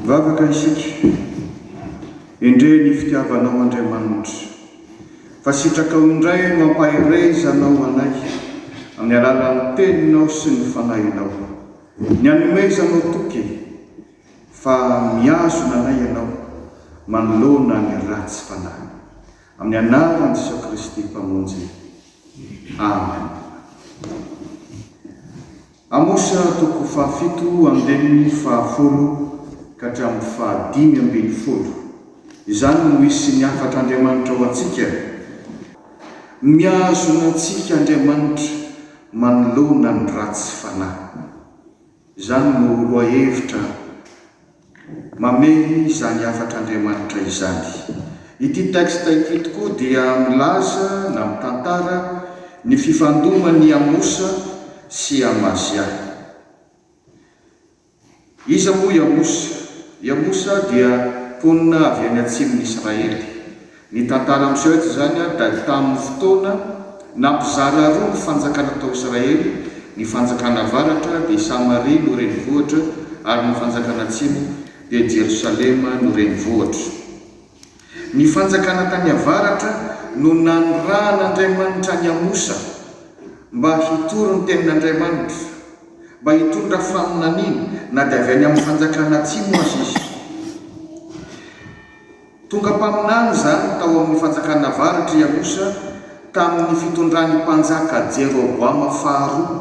Vavaka isika, endrey ny fitiavanao Andriamanitra, fa sitrakao indray no ampaherezanao anay amin'ny alalan'ny Teninao sy ny Fanahinao, ny anomezanao toky e! Fa mihazona anay Ianao manoloana ny ratsy fanahy. Amin'ny Anaran'i Jesoa Kristy Mpamonjy. Amen. Amosa toko fahafito andininy fahafolo ka hatramin'ny fahadimy ambin'ny folo. Izany no hisy ny hafatr'Andriamanitra ho antsika. Mihazona antsika Andriamanitra manoloana ny ratsy fanahy. Izany no lohahevitra mamehy izany hafatr'Andriamanitra izany. Ity texte ity tokoa dia milaza na mitantara ny fifandoman'i Amosa sy Amazia. Iza moa i Amosa? I Amosa dia mponina avy any atsimon'Israely. Ny tantara miseho eto izany dia tamin'ny fotoana nampizara roa ny fanjakana tao Israely, ny fanjakana avaratra dia i Samaria no renivohitra ary ny fanjakana atsimo dia Jerosalema no renivohitra. Ny fanjakana tany avaratra no nanirahan'Andriamanitra an'i Amosa mba hitory ny tenin'Andriamanitra, mba hitondra faminaniana na dia avy any amin'ny fanjakana atsimo aza izy. Tonga mpaminany izany tao amin'ny fanjakana avaratra i Amosa tamin'ny fitondran'ny mpanjaka Jeroboama faharoa,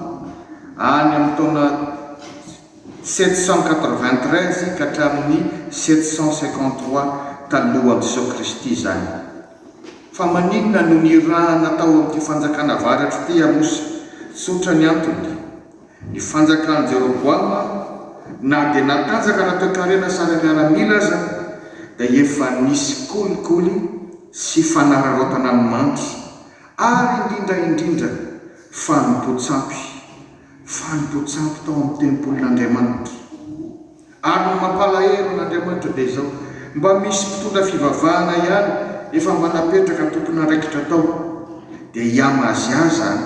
any amin'ny taona sept cent quatre-vingt-treize ka hatramin'ny sept cent cinquante-trois talohan'i Jesoa Kristy izany. Fa maninona no nirahana tao amin'ity fanjakana avaratra ity i Amosa? Tsotra ny antony. Ny fanjakan'i Jeroboama, na dia natanjaka na toekarena sady miaramila aza, dia efa nisy kolikoly sy fanararaotana ny manty, ary indrindra indrindra, fanompoan-tsampy, fanompoan-tsampy tao amin'ny tempolin'Andriamanitra. Ary ny mampalahelo an'Andriamanitra dia izao, mba misy mpitondra fivavahana ihany efa mba napetraka tompon'andraikitra tao, dia i Amazia izany.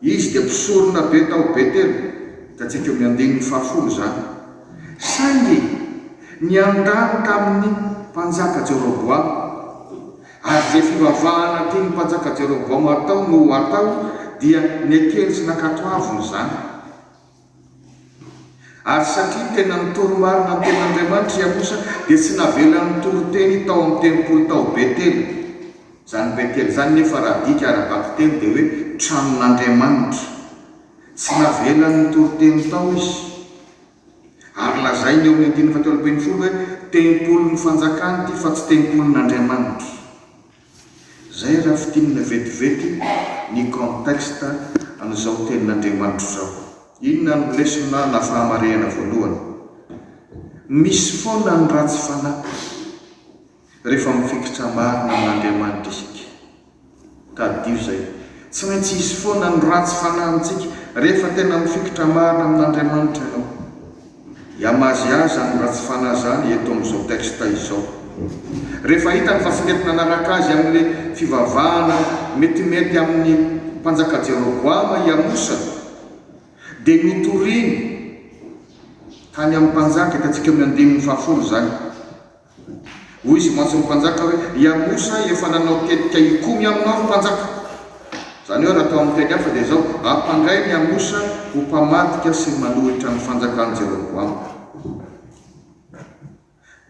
Izy dia mpisorona be tao Betela, hitantsika eo amin'ny andininy fahafolo izany. Saingy niandany tamin'ny mpanjaka Jeroboama, ary izay fivavahana tian'ny mpanjaka Jeroboama hatao no ho atao, dia nekeny sy nankatoaviny izany. Ary satria tena nitory marina ny Tenin'Andriamanitra i Amosa, dia tsy navelany nitory teny tao amin'ny tempoly tao Betela. Izany Betela izany nefa raha adika ara-bakiteny dia hoe tranon'Andriamanitra. Tsy navelany nitory teny tao izy. Ary lazainy eo amin'ny andininy fahatelo ambin'ny folo hoe, Tempolin'ny fanjakana ity fa tsy tempolin'Andriamanitra. Zay raha fintinina vetivety ny contexte an'izao tenin'Andriamanitra izao. Inona no lesona na fahamarehana voalohany? Misy foana ny ratsy fanahy rehefa mifikitra marina amin'Andriamanitra isika. Tadidio izay. Tsy maintsy hisy foana ny ratsy fanahy amintsika rehefa tena mifikitra marina amin'Andriamanitra ianao. Yamazia zany ratsy fanahy zany eto amin'izao texte izao. Rehefa hitany fa tsy mety nanaraka azy amin'ilay fivavahana metimety amin'ny mpanjaka Jeroboama i Amosa dia notoriny tany amin'ny mpanjaka, hitantsika eo amin'ny andininy fahafolo izany. Hoy izy mantsy ny mpanjaka hoe, I Amosa efa nanao tetika hikomy aminao ry mpanjaka. Izany hoe, raha atao amin'ny teny hafa dia izao, Hampandray ny Amosa ho mpamadika sy manohitra ny fanjakan'i Jeroboama.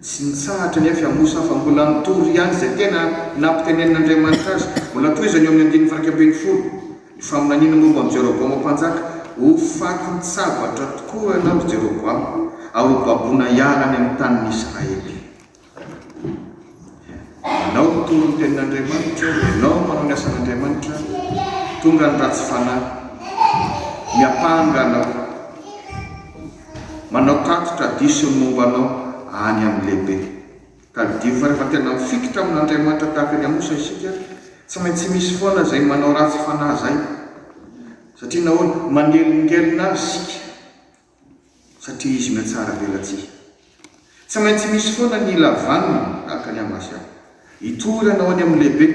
Tsy nitsahatra anefa i Amosa fa mbola nitory ihany izay tena nampitenenin'Andriamanitra azy. Mbola tohizany eo amin'ny andininy fairaika ambin'ny folo. Faminaniana momba an'i Jeroboama Mpanjaka, Ho fatin-tsabatra tokoa ianao, ry Jeroboama, ary ho baboina hiala any amin'ny tanin'i Israely. Ianao mitoro ny tenin'Andriamanitra, ianao manao ny asan'Andriamanitra, tonga ny ratsy fanahy, miampanga anao, manao tatitra diso ny momba anao any amin'ny lehibe. Tadidio fa rehefa tena mifikitra amin'Andriamanitra tahaka ny Amosa isika, tsy maintsy misy foana izay manao ratsy fanahy izay. Satria nahoana? Manelingelina Azy isika, satria Izy mihatsaravelatsihy. Tsy maintsy misy foana ny ila vanona, tahaka ny Amasia. Hitory ianao any amin'ny lehibe.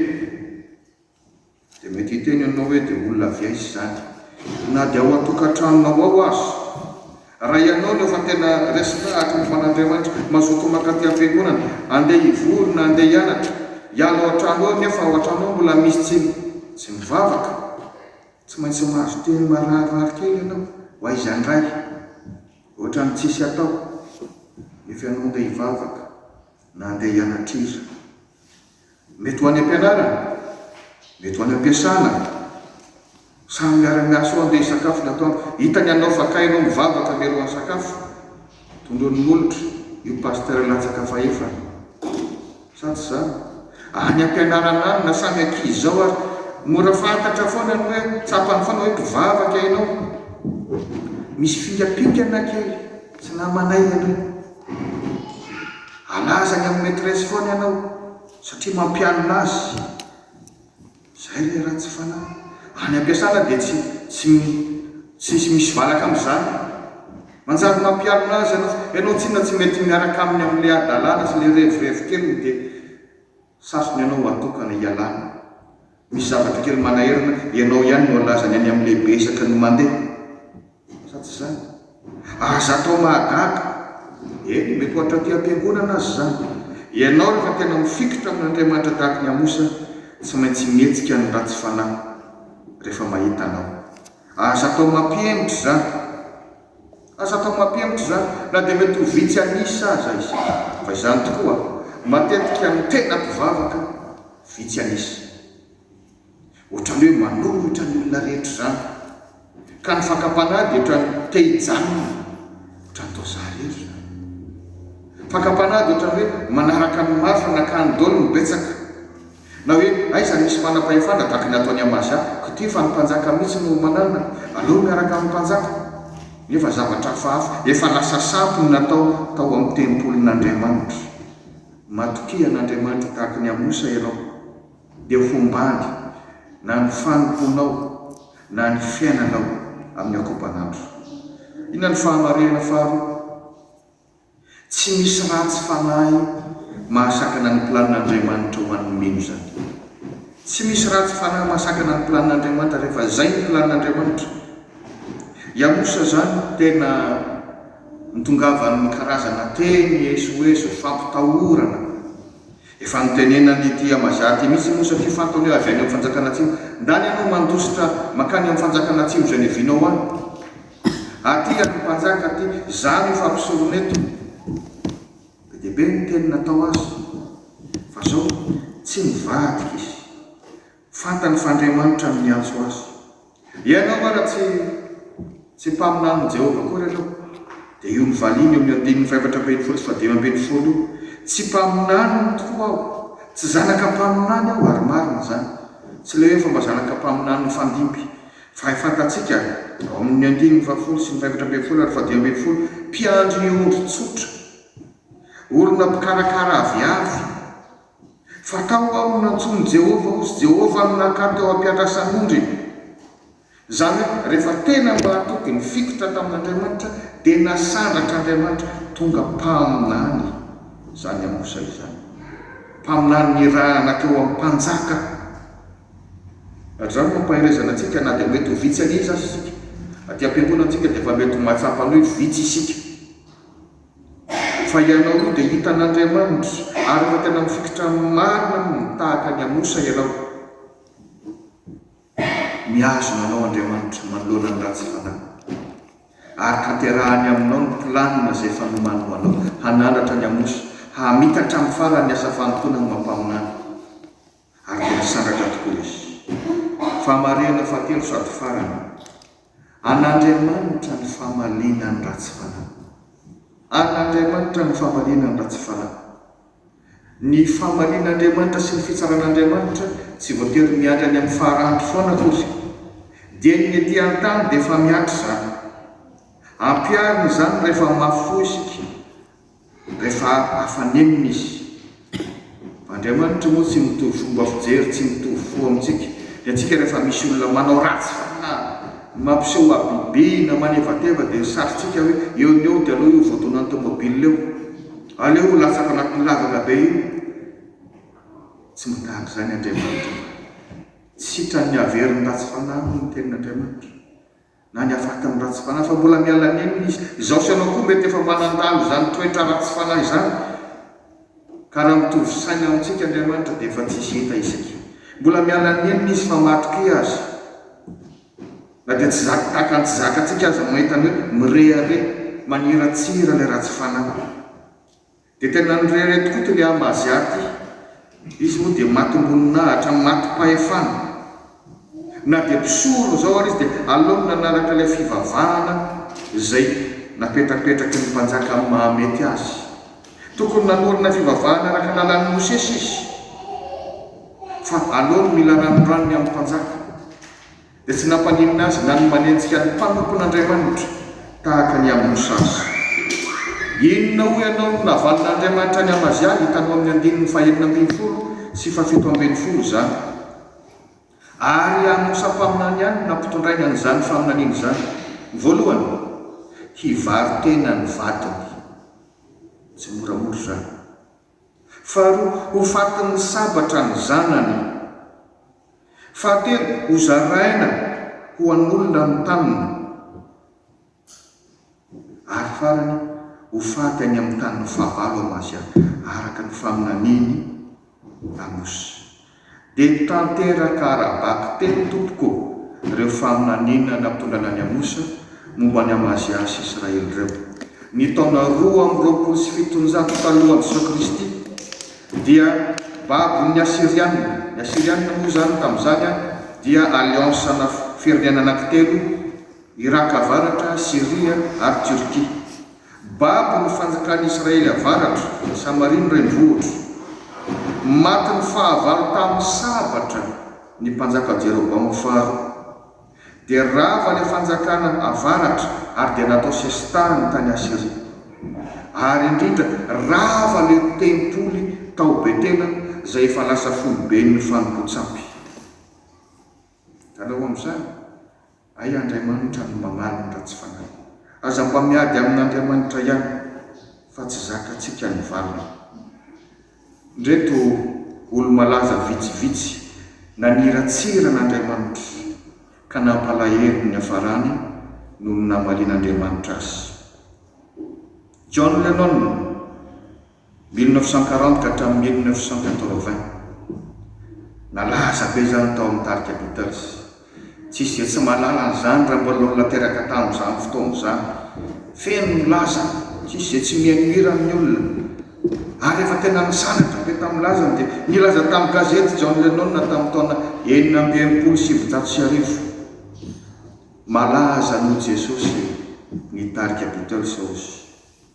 Dia mety hiteny ianao hoe dia olona avy aiza izany? Na dia ao an-tokantranonao ao aza. Raha ianao no efa tena resaka araka ny fanan'Andriamanitra, mazotoa mankaty am-piangonana, andeha hivory na andeha hianatra, hiala ao an-trano ao nefa ao an-trano ao mbola misy tsy tsy mivavaka, tsy maintsy mahazo teny mararirary kely ianao, ho aiza indray? Ohatran'ny tsisy atao, nefa ianao andeha hivavaka na andeha hianatr'iza. Mety ho any am-pianarana, mety ho any am-piasana, samy miara-miasa eo andeha hisakafo ny atoandro. Hitany ianao fa kay ianao mivavaka mialohan'ny sakafo, tondroin'ny molotra io pasitera latsaka fahefany. Sa tsy izany? Any am-pianarana any na samy ankizy izao ary, mora fantatra foana ny hoe, tsapany foana hoe mpivavaka ianao. Misy fingampingana kely, tsy namanay ianao. Alaza any amin'ny maîtresse foana ianao satria mampianina azy. Izay re raha tsy fanahy. Any am-piasana dia tsy tsy tsy misy valaka amin'izany. Manjary mampianina azy ianao fa ianao tsinona tsy mety miaraka aminy amin'ilay hadalana sy ilay revirevy keliny dia Sasony ianao ho atokana hialana. Misy zavatra kely manahirana, ianao ihany no alazany any amin'ny lehibe isaky ny mandeha. Sa tsy izany? Aza atao mahagaga. Eny, mety ho hatraty am-piangonana aza izany. Ianao rehefa tena mifikitra amin'Andriamanitra tahaka ny Amosa, tsy maintsy mihetsika ny ratsy fanahy rehefa mahita anao. Aza atao mampihemotra izany. Aza atao mampihemotra izany, na dia mety ho vitsy an'isa aza izy, fa izany tokoa matetika ny tena mpivavaka vitsy an'isa. Ohatran'ny hoe manohitra ny olona rehetra izany, ka ny fakam-panahy dia ohatran'ny te hijanona, ohatran'ny toa za irery izany. Fakam-panahy dia ohatran'ny hoe manaraka ny mafy na kandol ny betsaka. Na hoe aiza no misy manam-pahefana tahaka ny ataon'i Amazia, ko ty fa ny mpanjaka mihitsy no manalina, aleo miaraka amin'ny mpanjaka. Nefa zavatra hafahafa, efa lasa sampy ny natao tao amin'ny tempolin'Andriamanitra. Matokia an'Andriamanitra tahaka ny Amosa ianao, dia hombany na ny fanompoanao na ny fiainanao amin'ny ankopan'andro. Inona no fahamarihana faharoa? Tsy misy ratsy fanahy mahasakana ny planin'Andriamanitra ho an'ny mino izany. Tsy misy ratsy fanahy mahasakana ny planin'Andriamanitra rehefa izay ny planin'Andriamanitra. Yamusa izany tena nitongavan'ny karazana teny esoeso, fampitahorana. Efa notenenany ity Amaza ity mihitsy moa satria fantany hoe avy any amin'ny fanjakana atsimo. Ndany ianao mandositra mankany amin'ny fanjakana atsimo izay niavianao any. Aty ian'ny mpanjaka aty. Izaho no efa mpisorona eto. Be dia be ny teny natao azy. Fa izao, tsy nivadika izy. Fantany fa Andriamanitra no niantso azy. Ianao nga raha tsy tsy mpaminanin'i Jehovah akory aloha? Dia io novaliany eo amin'ny andininy fahefatra ambin'ny folo sy fahadimy ambin'ny folo io, Tsy mpaminaniny tokoa aho. Tsy zanaka mpaminany aho, ary marina izany. Tsy ilay hoe fomba zanaka mpaminany mifandimby. Fa fantatsika ao amin'ny andininy fahafolo sy ny fahefatra ambin'ny folo ary fahadimy ambin'ny folo, mpiandry ny ondry tsotra, olona mpikarakara aviavy, Fa tao aho no nantsoin'i Jehovah aho, sy Jehovah no nankany teo am-piandrasan'ondriny. Izany hoe, rehefa tena mahatoky ny fikitra tamin'Andriamanitra, dia nasandrak'Andriamanitra tonga mpaminany izany Amosa izany. Mpaminany nirahana teo amin'ny mpanjaka. Ary izany no ampaherezana antsika na dia mety ho vitsy anie izy aza isika. Aty am-piangonantsika dia efa mety ho mahatsapa an'io vitsy isika. Fa ianao io dia hitan'Andriamanitra, ary raha tena mifikitra marina aminy tahaka ny amosa ianao, mihazona anao Andriamanitra manoloana ny ratsy fanahy, ary tanterahany aminao ny planina izay fanomany ho anao, hanandratra ny amosa, hamitatra amin'ny farany ny asa fanompoana ny Mampaminany. ary dia misangatra tokoa izy. Fahamarihana fahatelo sady farany, An'Andriamanitra ny famaliana ny ratsy fanahy. An'Andriamanitra ny famaliana ny ratsy fanahy. Ny famalian'Andriamanitra sy ny fitsaran'Andriamanitra tsy voatery miandry any amin'ny faharanty foana akory. Dieny ny ety an-tany dia efa mihatra izany. Ampiharina izany rehefa mafy fo isika. Rehefa afanenina izy. Andriamanitra moa tsy mitovy fomba fijery, tsy mitovy fo amintsika. Dia antsika rehefa misy olona manao ratsy na mampiseho habibiana na manevateva dia sarintsika hoe eo no eo dia aleo io voadonan'ny tomobile eo, aleo io latsaka anatin'ny lavaka be io. Tsy mba tahaka izany Andriamanitra fa tsy sitrany haveriny ratsy fanahy moa ny tenin'Andriamanitra. na ny hafatiny ratsy fanahy fa mbola miala nenina izy, izaho sy ianao koa mety efa manandalo izany toetra ratsy fanahy izany ka raha mitovy saina amintsika Andriamanitra dia efa tsisy heta isika mbola miala nenina izy fa matokia azy na dia tsy zaka tahaka ny tsy zakatsika aza mahita ny hoe mirehareha maniratsira ilay ratsy fanahy Dia tena nirehareha tokoa ity lehilahy Mazia ity. Izy moa dia matim-boninahitra, matim-pahefana. Na dia mpisolo izao ary izy dia aleony nanaraka ilay fivavahana izay napetrapetraky ny mpanjaka amin'ny mahamety azy. Tokony nanorina fivavahana araka ny lalàn'i Mosesy izy, fa aleony mila ranoranony amin'ny mpanjaka. Dia tsy nampaninona azy na ny manenjika ny mpanompon'Andriamanitra tahaka ny amin'i Mosasy. Inona hoy ianao no navalin'Andriamanitra an'i Amazia, hitanao amin'ny andininy fahenina ambin'ny folo sy fahafito ambin'ny folo izany. Ary an'i Mosa mpaminany ihany no nampitondrainy an'izany faminaniana izany. Voalohany, hivaro-tena ny vadiny. Tsy moramora izany. Faharoa, ho fatin'ny sabatra ny zanany. Fahatelo, ho zaraina ho an'olona mitanina. Ary farany, ho faty any amin'ny tanin'ny fahavalo amin'Asia, araka ny faminanian'i Amosy. Dia nitanteraka ara-baky teny tompoko ireo faminaniana natongana an'i Amosa momba an'i Amazia sy Israely ireo. Ny taona roa amby roapolo sy fitonjato talohan'i Jesoa Kristy dia babon'ny Asiriana. Ny Asiriana moa izany tamin'izany dia alliance ana firenena anankitelo, Iraka Avaratra, Syria ary Turquie. Babo no fanjakan'i Israely avaratra, Samaria no renivohitro. Matin'ny fahavalo tamin'ny sabatra ny mpanjaka Jeroboama faharoa. Dia rava ilay fanjakana avaratra ary dia natao sesitany tany Asyria. Ary indrindra, rava ilay tempoly tao Betela izay efa lasa foiben'ny fanompoan-tsampy. Hitanao amin'izany? Hay Andriamanitra no mamaliny raha tsy fanahy. Aza mba miady amin'Andriamanitra ihany fa tsy zakantsika ny valiny. Ndreto olo-malaza vitsivitsy naniratsira an'Andriamanitra ka nampalahelo ny niafarany noho ny namalian'Andriamanitra azy. John Lennon. Mille neuf cent quarante ka hatramin'ny mille neuf cent quatre-vingts. Nalaza be izany tao amin'ny tarika Beatles. Tsy hisy izay tsy mahalala an'izany raha mbola olona teraka tamin'izany fotoana izany. Feno ny laza, tsy hisy izay tsy mihaino hira amin'ny olona. Ary efa tena nisandratra be tamin'ny lazany dia nilaza tamin'ny gazety John Lennon tamin'ny taona enina amby enimpolo sy sivinjato sy arivo, Malaza noho Jesosy ny tarika Beatles, hoy izy.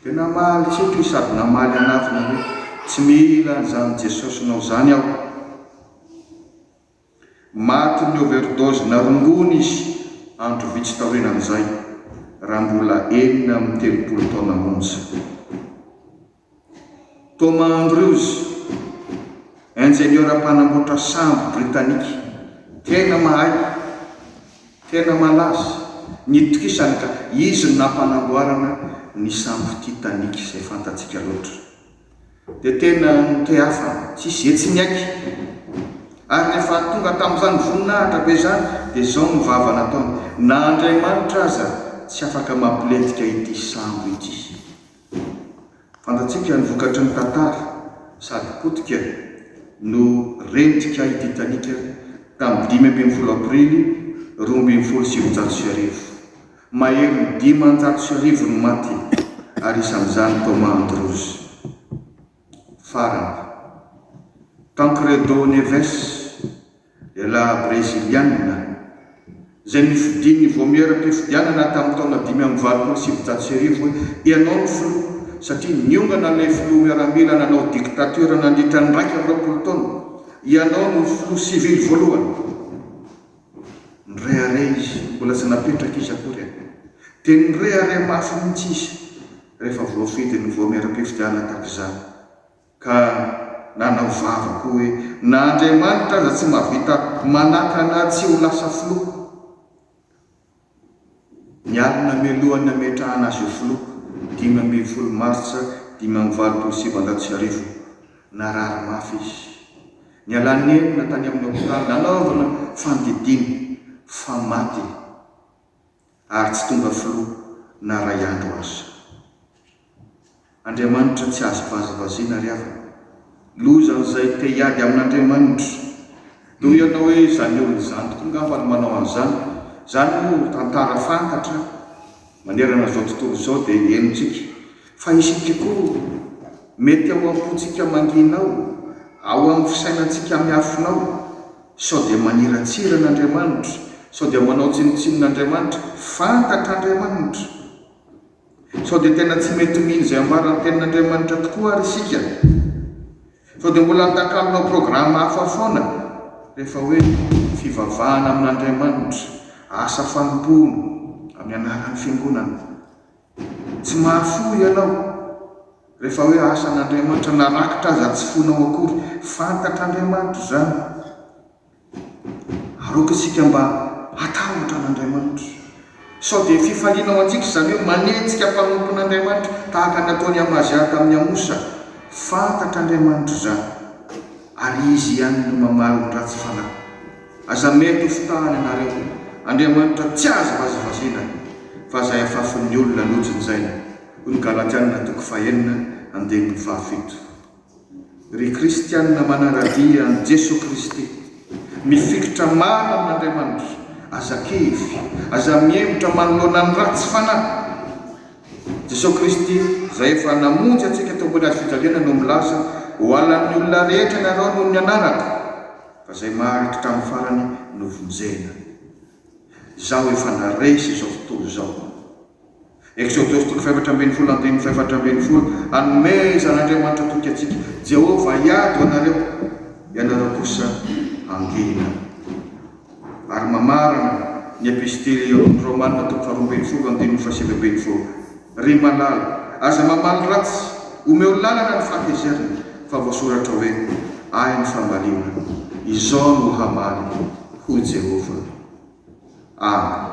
Dia namaly tsinjo sady namaly hanatona hoe, Tsy mila an'izany Jesosinao izany aho. Matin'ny overdose na rongony izy andro vitsy taorianan'izay, raha mbola enina amby telopolo taona monja. Thomas Andrews, injeniora mpanamboatra sambo Britanika, tena mahay. Tena malaza ny tokisany ka izy no nampanamboarana ny sambo Titanic izay fantatsika loatra. Dia tena noteafana tsy hisy etsy ny aiky. Ary rehefa tonga tamin'izany voninahitra be izany dia izao no vava nataony, na Andriamanitra aza tsy afaka mampilentika ity sambo ity. Fantatsika ny vokatry ny tantara sady potika no rendrika i Titanic tamin'ny dimy ambin'ny folo aprily roa ambin'ny folo sy sivinjato sy arivo. Maherin'ny dimanjato sy arivo ny maty ary isan'izany Thomas Andrews. Farany, Tancredo Neves, lehilahy Breziliana, izay nofidin'ny Vaomieram-pifidianana tamin'ny taona dimy amby valopolo sy sivinjato sy arivo hoe ianao no filoha satria niongana ilay filoha miaramila nanao diktatiora nandritra ny iraika amby roapolo taona, ianao no filoha sivily voalohany. Nirehareha izy, mbola tsy napetraka izy akory e! Dia nirehareha mafy mihitsy izy rehefa voafidy ny voamiera-pifidianana tahaka izany, ka nanao vava koa hoe na Andriamanitra aza tsy mahavita manakana ahy tsy ho lasa filoha. Ny ady namelohan'ny nametrahana azy ho filoha, dimy ambin'ny folo martsa dimy amby valopolo sy sivinjato sy arivo. Narary mafy izy. Nialany nenina tany amin'ny hopitaly nanaovana fandidiana fa maty ary tsy tonga filoha na iray andro aza. Andriamanitra tsy azo vazivaziana ry havana. Loza an'izay te hiady amin'Andriamanitra. Noho ianao hoe izany olona izany tokoa ngamba no manao an'izany. Izany moa tantara fantatra manerana izao tontolo izao dia henontsika. Fa isika koa, mety ao am-pontsika mangina ao, ao amin'ny fisainantsika miafina ao, sao dia maniratsira an'Andriamanitra, sao dia manao tsinontsinona Andriamanitra. Fantatr'Andriamanitra. Sao dia tena tsy mety mino izay ambaran'ny Tenin'Andriamanitra tokoa àry isika? Sao dia mbola andakalonao programa hafa foana rehefa hoe fivavahana amin'Andriamanitra, asa fanompoana, amin'ny anaran'ny fiangonana? Tsy mahafoy ianao rehefa hoe asan'Andriamanitra, na rakitra aza tsy foinao akory. Fantatr'Andriamanitra izany. Aoka isika mba hatahotra an'Andriamanitra. Sao dia fifaliana ao antsika izany hoe manenjika mpanompon'Andriamanitra tahaka ny nataon'i Amazia tamin'i Amosa. Fantatr'Andriamanitra izany, ary Izy ihany no mamaly ny ratsy fanahy. Aza mety ho fitahany ianareo. Andriamanitra tsy azo vazivaziana, fa izay afafin'ny olona lojin'izay, hoy ny Galatiana toko fahenina andininy fahafito. Ry kristianina manangadia an'i Jesoa Kristy, mifikitra maro amin'Andriamanitra, aza kivy, aza mihemotra manoloana ny ratsy fanahy. Jesoa Kristy izay efa namonjy antsika teo ambony hazofijaliana no milaza, Hohalan'ny olona rehetra ianareo noho ny anarako, fa izay maharitra hatramin'ny farany no vonjena. Izaho efa naresy izao tontolo izao. Eksodosy toko fahefatra ambin'ny folo andininy fahefatra ambin'ny folo Hanome izany Andriamanitra toky antsika, Jehovah hiady ho anareo, ianareo kosa hangina. Ary mamarana ny Epistily eo amin'ny Romana toko faharoa ambin'ny folo andininy fahasivy ambin'ny folo Ry malala, aza mamaly ratsy, omeo lalana ny fahatezerana, fa voasoratra hoe, Ahy ny fambaliana, izao no hamaly, hoy Jehovah. Amen.